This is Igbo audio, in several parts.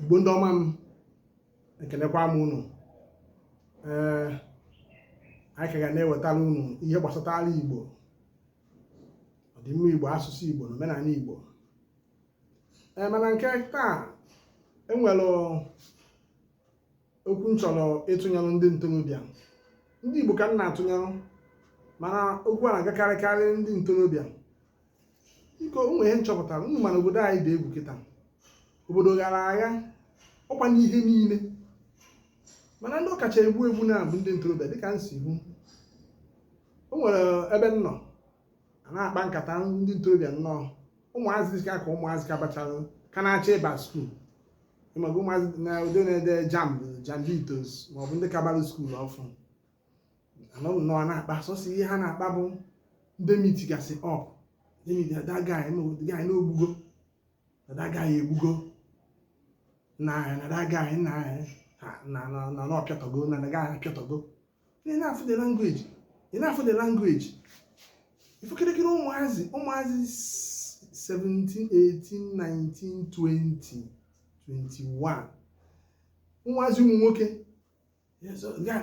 igbo ndị ọma m ekenekwa m unu ee eh, anyị ka ga na-ewetara unu ihe gbasatara igbo ọdịmma igbo asụsụ igbo na omenala igbo ee eh, mana nke taa e nwere okwu m chọrọ ịtụnyere ndị ntorobịa ndị igbo ka m na-atụnyere mana okwu a na-agakarịkarị ndị ntorobịa biko o nwe ihe m chọpụtara unu ma na obodo anyị dị egwu kịta obodo ghara agha ọkwa n'ihe niile mana ndị ọ kacha egbu egbu na-abụ ndị ntorobịa dịka m si hụ o nwere ebe m nọ a na-akpa nkata ndị ntorobịa nnọọ ụmụazị ka ka ụmụazị ka bachara ka na-achọ ịba school ị maga ụmụazị na ndị na-ede jamb jambitos maọbụ ndị ka bara school ọfụụ a nọ nnọọ na-akpa sọsọ ihe ha na-akpa bụ ndị meetigasị up that guy na o gbugo that guy egbugo na ahịa na that guy na ahịa na na ọ pịatọgo na that guy apịatọgo ị na-afụ the language ị na-afụ the language ị fụ kịrịkịrị ụmụazị ụmụazị 17 18 19 20 21 ụmụazị ụmụ nwoke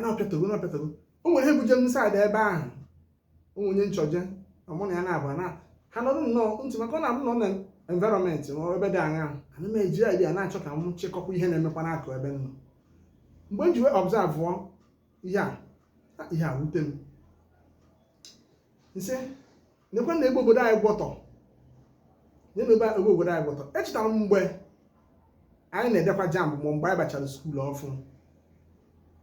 na-apịatago na-apịatago o nwere ihe buje m side ebe ahụ o nwe onye m chọje mụ na ya na-abụ na ha nọrọ nnọọ ntị maka ọ na-abụ m nọ na environment ma ebe dị aṅa ana m eji idea na-achọ ka m chịkọkwa ihe na-emekwa n'akụkụ ebe m nọ mgbe m ji wee observe ihe a ihe a wute m m sị nekwe na ebe obodo anyị gwọtọ nye na ebe ebe obodo anyị gwọtọ echetara m mgbe anyị na-edekwa jamb ma mgbe anyị bachara school ọfụụ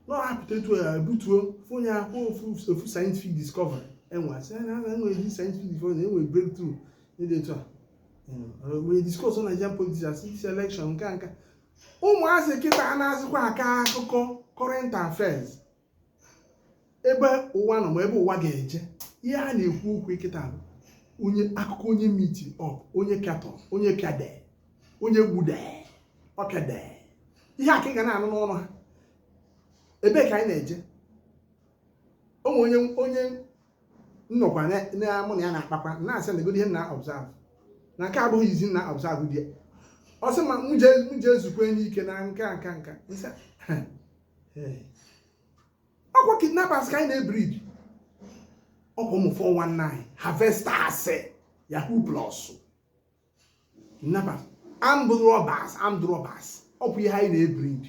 na ọ hapụta etu ya butuo onye a kwuo ofu ofu scientific discovery e nwe a sị ya na e nwe this scientific discovery na e nwe breakthrough n'ihe dị etu a wee discuss on Nigerian politics as this election nke a nke a. ụmụazị kịta anazịkwa akọ akụkọ current affairs ebe ụwa nọ ma ebe ụwa ga-eje ihe a na-ekwu okwu kịta bụ onye akụkọ onye meeti up onye pịatọ onye pịade onye gbude ọ pịade ihe a ka ị ga na-anụ n'ọnụ ha ebee ka anyị na-eje o nwe onye onye nọkwa mụ na ya na-akpakwa na-asị negodi ihe m na-observe na nke a abụghị izizi m na-observe ihe a ọ sị m jee zukwanụ ike na nke a nke a nke a ọkwa kidnappers ka anyị na-ebrid ọkwa ụmụ 419 harvesters yahoo plus kidnappers armed robbers armed robbers ọkwa ihe anyị na-ebrid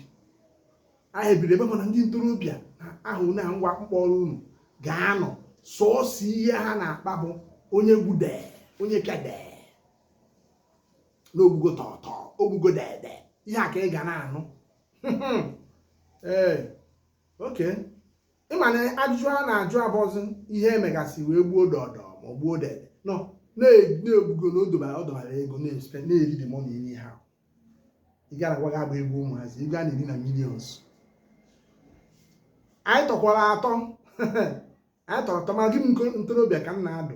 anyị ebrid ebe mana ndị ntorobịa na ahụ na ngwa mkpọrọ unu ga-anọ sọọsọ ihe ha na-akpa bụ onye gbude onye kede na o gbugo tọtọ o gbugo dede ihe a ka ị ga na-anụ ee okay ị ma na ajụjụ a na-ajụ abụzi ihe e megasị wee gbuo dọdọ ma ọ gbuo dede nọ na-ebugo na odobara ọdọbara ego na-espe na-eri dị mọna iri ha ị gara gwa gị agba egwu ụmụazị ị gaa na eri na millions anyị tọkwara atọ anyị tọrọ atọ ma gị m ntorobịa ka m na-adụ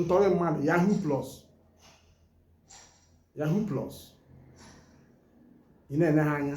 ntọrị mmadụ yahoo plus yahoo plus ị na-ene ha anya